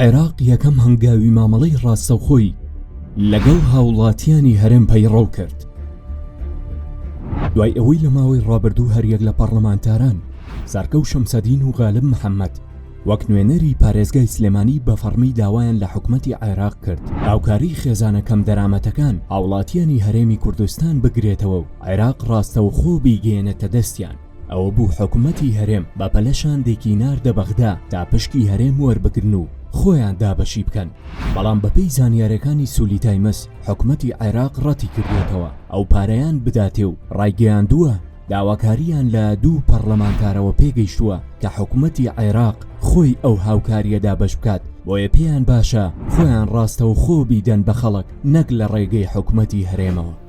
عێراق یەکەم هەنگاوی مامەڵەی ڕاستەوخۆی لەگەڵ هاوڵاتیانی هەرێم پەیڕەو کرد دوای ئەوەی لە ماوەی ڕابردوو هەریەک لە پەڕلەمانتاران سارکە و شەمسەدین و غالب محەممەد وەک نوێنەری پارێزگای سلێمانی بە فەڕمی داوایان لە حکوومەتی عێراق کرد هاوکاری خێزانە کەم دەرامەتەکان هاوڵاتیانی هەرێمی کوردستان بگرێتەوە و عێراق ڕاستەوخۆ بیگەێنێتە دەستیان ئەوە بوو حکومەتی هەرێم بە پەلە شاندێکی ناردە بەغدا تا پشکی هەرێم وەربگرن و خۆیان دابەشی بکەن، بەڵام بەپێی زانیارەکانی سولی تایمس حکومەتی عێراق ڕەتی کردووەتەوە ئەو پارەیان بداتێ و ڕایگەیاندووە داواکارییان لە دوو پەڕلەمانتارەوە پێگەیشتووە کە حکومەتی عێراق خۆی ئەو هاوکارییە دابەش بکات، بۆیە پێیان باشە خۆیان ڕاستەوخۆ بیدەن بە خەڵک نەک لە ڕێگەی حکومەتی هەرێمەوە.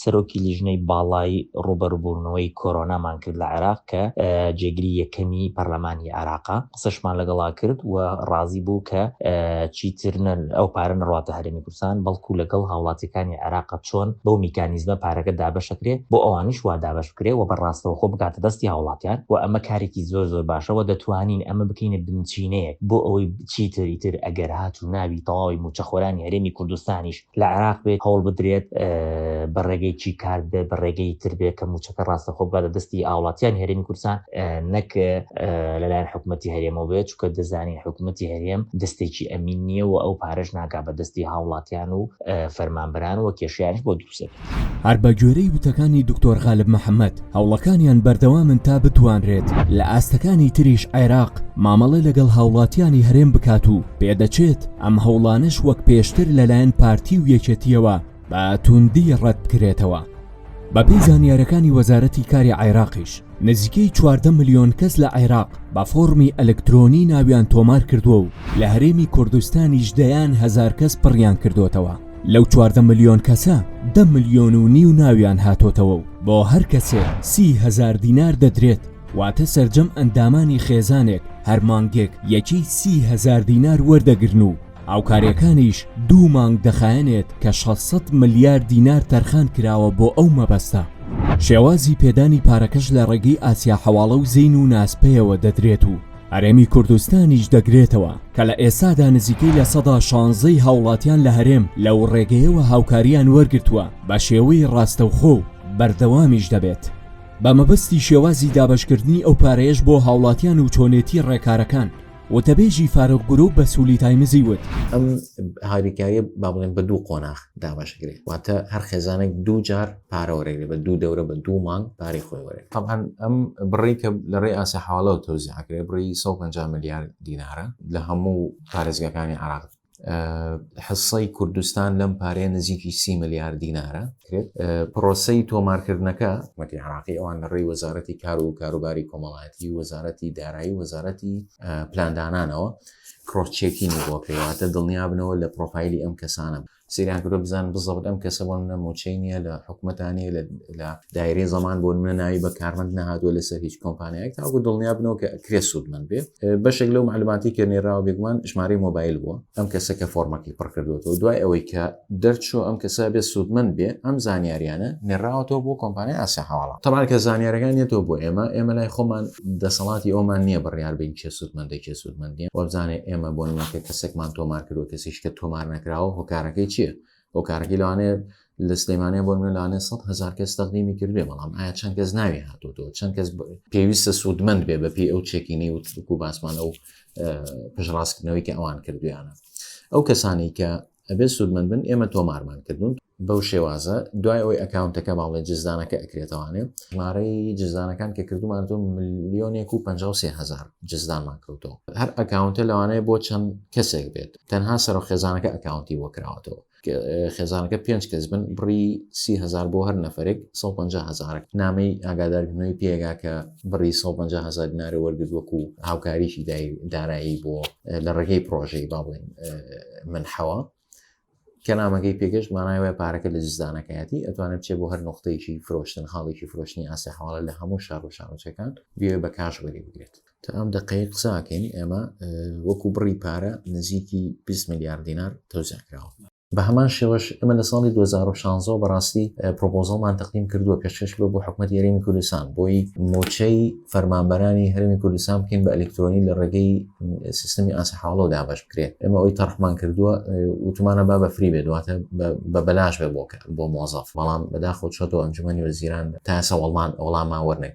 سەرۆکی لیژنەی باڵای ڕووبەروبوونەوەی کۆرۆنامان کرد لە عێراق کە جێگری یەکەمی پەرلەمانی عێراقە، قسەشمان لەگەڵا کرد و ڕازی بوو کە چیتر نە ئەو پارە نەڕواتە هەرێمی کوردستان بەڵکو لەگەڵ هاوڵاتیەکانی عێراقە چۆن بەو میکانیزمە پارەکە دابەشەکرێ بۆ ئەوانیش وا دابەش بکرێ و بە ڕاستەوخۆ بگاتە دەستی هاوڵاتیان و ئەمە کارێکی زۆر زۆر باشە و دەتوانین ئەمە بکەینە بنچینەیەک بۆ ئەوەی چیتر ئیتر ئەگەر هاتوو ناوی تەواوی مووچەخۆرانی هەرێمی کوردستانیش لە عێراق بێت هەوڵ بدرێت بە ڕێگەیەکی کارت بێت بە ڕێگەی تر بێت کە مووچەکە ڕاستەخۆ بگات بە دەستی هاوڵاتیانی هەرێمی کوردستان نەک لەلایەن حکوومەتی هەرێمەوە بێت چونکە دەزانین حکوومەتی هەرێم دەستێکی ئەمین نییە و ئەو پارەش ناگات بە دەستی هاوڵاتیان و فەرمانبەران و کێشەیانیش بۆ دروست دەبێت. هەر بە گوێرەی وتەکانی دکتۆر غالب محەمەد، هەوڵەکانیان بەردەوامن تا بتوانرێت لە ئاستەکانی تریش عێراق مامەڵە لەگەڵ هاوڵاتیانی هەرێم بکات و پێدەچێت ئەم هەوڵانەش وەک پێشتر لەلایەن پارتی و یەکێتییەوە بە تووندی ڕەتبکرێتەوە. بەپێی زانیارەکانی وەزارەتی کاری عێراقیش، نزیکەی چواردە ملیۆن کەس لە عێراق بە فۆڕمی ئەلکترۆنی ناویان تۆمار کردووە و لە هەرێمی کوردستانیش دەیان هەزار کەس پڕیان کردوتەوە لەو چواردە ملیۆن کەسە دە ملیۆن و نیو ناویان هاتۆتەوە و بۆ هەر کەسێ سی هەزار دینار دەدرێت واتە سەرجەم ئەندامانی خێزانێک هەر مانگێک یەکەی سی هەزار دینار وەردەگرن و هاوکارییەکانیش دوو مانگ دەخایەنێت کە شەش سەد ملیار دینار تەرخان کراوە بۆ ئەو مەبەستە، شێوازی پێدانی پارەکەش لە ڕێگەی ئاسیا حەواڵە و زین و ناسپەیەوە دەدرێت و هەرێمی کوردستانیش دەگرێتەوە کە لە ئێستادا نزیکەی لە سەدا شانزەی هاوڵاتیان لە هەرێم لەو ڕێگەیەوە هاوکارییان وەرگرتووە بە شێوەی ڕاستەوخۆ و بەردەوامیش دەبێت بە مەبەستی شێوازی دابەشکردنی ئەو پارەیەش بۆ هاوڵاتیان و چۆنێتی ڕێکارەکان وتەبێژی فاروق گروپ بە سولی تایمزی وت، ئەم هاریکاریە با بڵێن بە دوو قۆناغ دابەشکرێ واتە هەر خێزانێک دوو جار پارە وەرەگرێ بە دوو دەورە بە دوو مانگ پارەی خۆی وەرەگرێ تەبعەن ئەم بڕەی کە لە ڕێی ئاسای حەواڵەوە تەوزیع ئەکرێ بڕی سەد و پەنجا ملیار دینارە لە هەموو پارێزگاکانی عێراق. حسەی کوردستان لەم پارەیە نزیکی سی ملیار دینارە کرێت پرۆسی تۆمارکردنەکە مەتی عراقی ئەوان لە ڕێی وەزارەتی کار و کاروباری کۆمەڵایەتی وەزارەتی دارایی وەزارەتی پلاندانانەوە کڕۆچێکی نەبووکەواتە دڵنیابنەوە لە پرۆفایلی ئەم کەسانە سریان کرۆ بزان بزەوت ئەم کەسە بۆ منە موچەی نیە لە حکوومەتانی لە دایرەی زەمان بۆ منە ناوی بە کارمەند نهاتوە لەسەر هیچ کۆمپانیایەک تاکو دڵنیا بنەوە کە کرێ سوودمەند بێ بەشێک لەو معلوماتی کە نێراوە بێگومان ژمارەی مۆبایل بووە ئەم کەسە کە فۆرمەکەی پڕکردوەوە دوای ئەوەی کە دەرچوو ئەم کەسە بێ سوودمەند بێ ئەم زانیاریانە نێراوەەوە بۆ کۆمپانیا ئاسیا هەواڵە تەمان کە زانیارەکان نێتەوە بۆ ئێمە ئێمە لای خۆمان دەسەڵاتی ئەومان نییە بڕیار بین کێ سوودمەندە کێ سوودمەندیە وەبزانێ ئێمە بۆ نمەکە کەسێکمان تۆمار کردو کەسیش کە تۆمار نەکراوە هۆکارەکەی چییە هۆکارەکەی لەوانێ لە سلێمانە بۆ منە لەوانێ سە هزار کەس تەقدیمی کردێ بەڵام ئایا چەند کەس ناوی هاتوتەوە چەند کەس پێویستە سوودمەند بێ بە پێی ئەو چێکینەی و ترک و باسمانە و پشڕاستکردنەوەی کە ئەوان کردویانە ئەو کەسانی کە ئەبێ سوودمەند بن ئێمە تۆمارمان کردون بەو شێوازە دوای ئەوەی ئەکاونتەکە باڵێ جزدانەکە ئەکرێتوانێ ژمارەی جزدانەکان کە کردومان تۆ ملیۆنێک و 5هزار جزدانمان کەوتەوە هەر ئەکاونتە لەوانەیە بۆ چەند کەسێک بێت تەنها سەرۆک خێزانەکە ئەکاونتی بۆ کراوەتەوە خێزانەکە پێنج کەس بن بڕی سی هزار بۆ هەر نەفرێک 150 هزارک نامەی ئاگادارکردنەوەی پێگا کە بڕی 150 هزار نارە وەرگرت وەکو هاوکاریی دارایی بۆ لە ڕێگەی پرۆژەی با بڵێن من حەوە کە نامەکەی پێگەش مانای وای پارەکە لە جزدانەکەیەتی ئەتوانێت چێ بۆ هەر نقطەیەکی فرۆشتن حاڵێکی فرۆشتنی ئاسە حواڵە لە هەموو شار و شارۆچەکان بێ بە کاش وەری بگرێت تا ئەم دەقەیە قساکەین ئێمە وەکو بڕی پارە نزیکی 20 میلیارد دینار تۆزیان کراوە بە هەمان شێوەش ئەمە لە ساڵی 2016 بەڕاستی پرۆپۆزەڵمان تەقدیم کردووە پێشکەش بە بۆ حکومەت یاریمی کوردستان بۆی موچەی فەرمانبەرانی هەرمی کوردستان بکەین بە ئەلکترۆنی لە ڕێگەی سیستمی ئاسە حاڵۆ دابش بکرێت ئەمە ئەوی تەرحمان کردووە وتمانە با بە فری بێت دواتە بە بەلاش بێ بۆکە بۆ مۆزەف بەڵام بەداخۆ چۆتەوە ئەنجومی وەزیران تا سەوەڵمان ئەوڵامان وەرنێک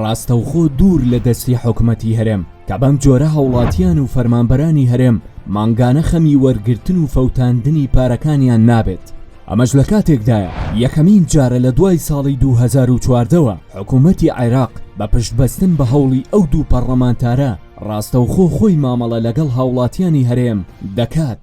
ڕاستەوخۆ دوور لە دەستی حکومەتی هەرێم کە بەم جۆرە هاوڵاتیان و فەرمانبەرانی هەرێم مانگانە خەمی وەرگرتن و فەوتاندنی پارەکانیان نابێت، ئەمەش لە کاتێکدایە یەکەمین جارە لە دوای ساڵی دوو هەزار و چواردە وە حکومەتی عێراق بە پشتبەستن بە هەوڵی ئەو دوو پەڕڵەمانتارە ڕاستەوخۆ خۆی مامەڵە لەگەڵ هاوڵاتیانی هەرێم دەکات.